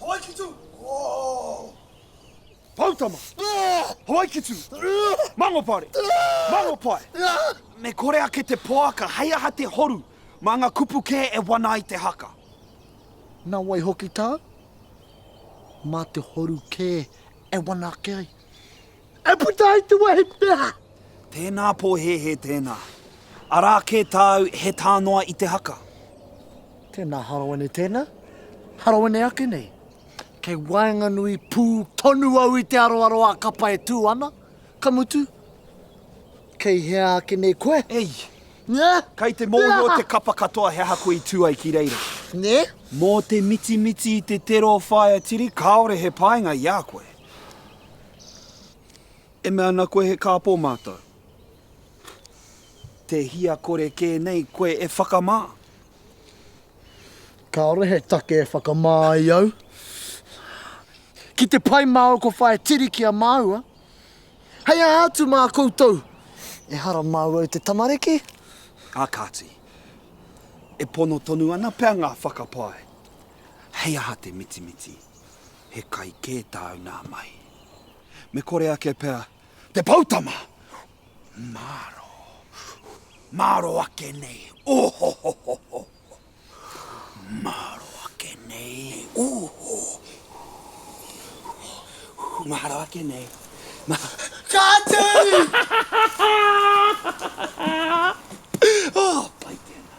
Hawaikitu! Poutama! Hawaikitu! Mangopare! Mangopae! Me kore ake te poaka hei aha te horu mā ngā kupu kē e wana ai te haka. Nā wai hoki tā? Mā te horu kē e wana ake ai. E puta ai te wehi peha. Tēnā pōhēhē tēnā. Arā kē tāu he tā noa i te haka. Tēnā harawene tēnā. Harawene ake nei. Kei waenganui pū tonu au i te aroaro a kapa e tū ana. Ka mutu, kei hea ake nei koe? Ei! Nē? Kei te mōhio te kapa katoa he aha koe i tū ai ki reira. Nē? Mō te mitimiti i te tero o Whaea Tiri kāore he painga i a koe. E mea ana koe he kāpō mātou. Te hia kore kē nei koe e whakamā? Kāore he take e whakamā ai au. Ki te pai māu ko whaia tiri ki a māua. Hei aha atu mā koutou? Ehara māu au te tamariki? Ā kāti, e pono tonu ana pea ngā whakapae. Hei aha te mitimiti? he kai kē tāu nā mahi. Me kore ake pea te poutama! Māro, māro ake nei, ohohohoho! Māro ake nei, oho! Māro ake nei, mā... Ka tū! oh, pai tēnā.